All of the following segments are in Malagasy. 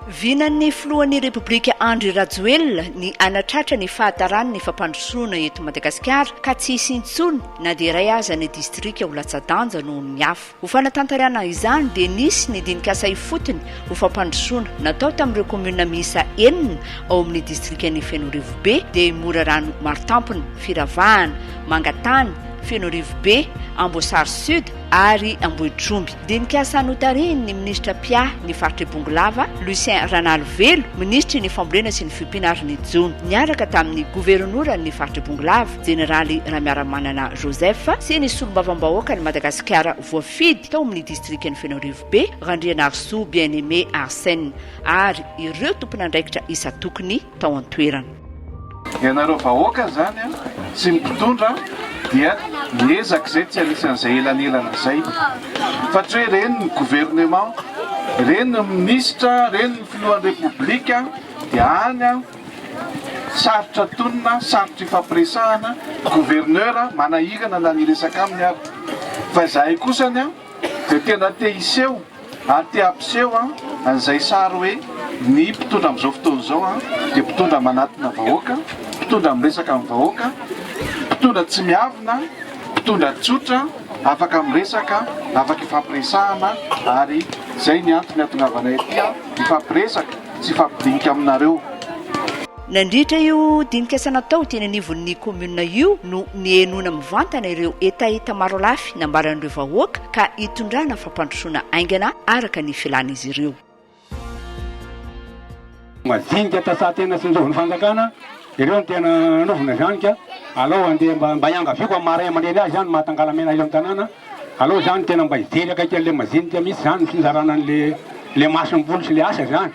Vinan'ny filohan'ny Repoblika Andry Rajoelina ny hanatratra ny fahataran' ny fampandrosoana eto Madagasikara ka tsy hisy intsony na dia iray aza ny distrika ho latsa-danja noho ny hafa. Ho fanatanterahana izany dia nisy ny dinikasa ifotony ho fampandrosoana natao tamin'ireo kaominina miisa enina ao amin'ny distrikan'i Fenorivobe dia i Morarano Maritampony, Firavahana, Mangatany, Fenorivobe, Amboasary Sud ary Ambohitromby. Dinikasa notarihin'ny minisitra mpiahy ny faritr'i Bongolava, Lucien Ranalivelo, minisitry ny Fambolena sy ny Fiompiana ary ny jono, niaraka tamin'ny goverinoran'ny faritr'i Bongolava, Jeneraly Ramiaramanana Joseph sy ny Solombavambahoakan'i Madagasikara voafidy tao amin'ny Distrikan'i Fenoarivobe, Randrianarisoa Bien Aimé Arsène ary ireo tompon'andraikitra isan-tokony tao an-toerana. Ianareo vahoaka izany sy ny mpitondra dia miezaka izay tsy anisan'izay elanelana izay fa tsy hoe reny ny gouvernement, reny ny minisitra, reny ny filohan'ny Repoblika dia any. Sarotra tonina, sarotra ifampiresahana, gouverneur manahirana na ny hiresaka aminy ary. Fa izahay kosa anie dia tena te hiseho ary te hampiseho an'izay sary hoe ny mpitondra amin'izao fotoana izao dia mpitondra manatona vahoaka, mpitondra miresaka amin'ny vahoaka, mpitondra tsy miavona, mpitondra tsotra, afaka miresaka, afaka ifampiresahana ary izay ny antony hahatongavanay aty hifampiresaka. tsy hifampidinika aminareo. Nandritra io dinika asa natao teny anivon'ny kaominina io no nihenoana mivantana ireo hetaheta marolafy nambaran'ireo vahoaka ka hitondrana fampandrosoana haingana araka ny filàn'izy ireo. Majinika ta sa tena sinjoviny fanjakana ireo no tena anovina izany ka alao andeha mba hiangaviako amin'ny maha ray aman-dreny azy ihany maha tangalamena eto amin'ny tanàna. Aleo zany tena mba hijery akaiky an'le majinika mihitsy zany ny fizarana an'le le masomboly sy le asa zany.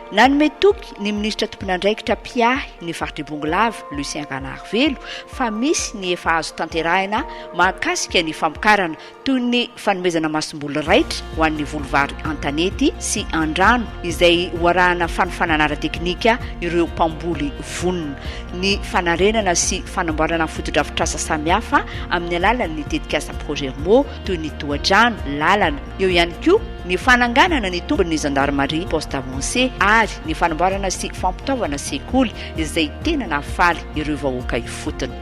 Nanome toky ny minisitra tompon'andraikitra mpiahy ny faritr'i Bongolava, Lucien Ranarivelo, fa misy ny efa azo tanterahina mahakasika ny famokarana, toy ny fanomezana masomboly raitra ho an'ny voly vary an-tanety sy an-drano, izay ho arahana fanofanana ara-teknika ireo mpamboly vonona. ny fanarenana sy fanamboarana fotodrafitrasa samihafa amin'ny alalan'ny tetikasa Progermo toy ny tohadrano, lalana. Eo ihany koa ny fananganana ny tombin'ny Zandarimaria Poste Avancé ary ny fanamboarana sy fampitaovana sekoly izay tena nahafaly ireo vahoaka ifotony.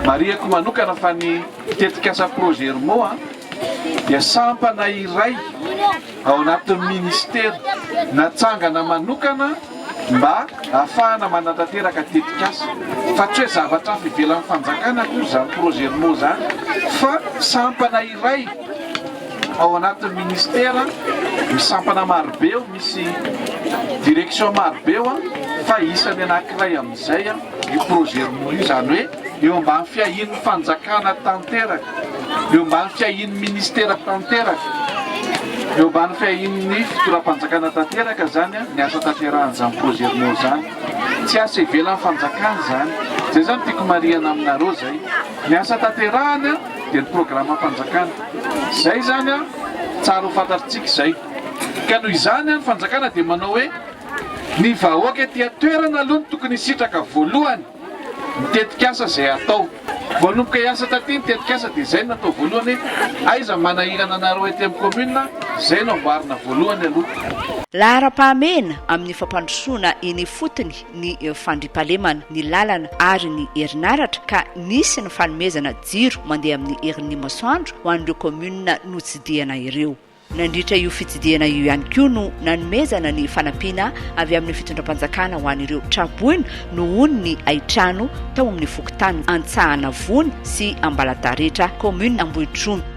Marihiko manokana fa ny tetikasa Progermo dia sampana iray. ao anatin'ny minisitera natsangana manokana mba hahafahana manatanteraka tetikasa fa tsy hoe zavatra hafa ivelan'ny fanjakana akory izany Progermo izany fa sampana iray ao anatin'ny minisitera misy sampana marobe eo, misy direction marobe eo fa isany anankiray amin'izay io Progermo io, izany hoe eo ambany fiahian'ny fanjakana tanteraka. Eo ambany fiahian'ny Minisitera tanteraka, eo ambany fiahian'ny Fitondram-panjakana tanteraka izany ny asa tanterahan'izany projet Rmo izany. Tsy asa ivelan'ny fanjakana izany. Izay izany no tiako marihana aminareo izay. Ny asa tanterahana dia ny programam-panjakana. Izay izany tsara ho fantatritsika izay. Ka noho izany ny fanjakana dia manao hoe ny vahoaka ety an-toerana aloha no tokony hisitraka voalohany. ny tetikasa izay hatao. Voanomboka hiasa taty ny tetikasa dia izay no natao voalohany hoe aiza ny manahirana anareo ety amin'ny kaominina, izay no amboarina voalohany aloha. Laharam-pahamehana amin'ny fampandrosoana eny ifotony ny fandriampahalemana, ny lalana ary ny herinaratra ka nisy ny fanomezana jiro mandeha amin'ny herin'ny masoandro ho an'ireo kaominina notsidihana ireo. Nandritra io fitsidihana io ihany koa no nanomezana ny fanampiana avy amin'ny fitondram-panjakana ho an'ireo tra-boina nohon ny haitrano tao amin'ny fokontany Antsahanavony sy Ambalataretra, kaominina Ambohitromby.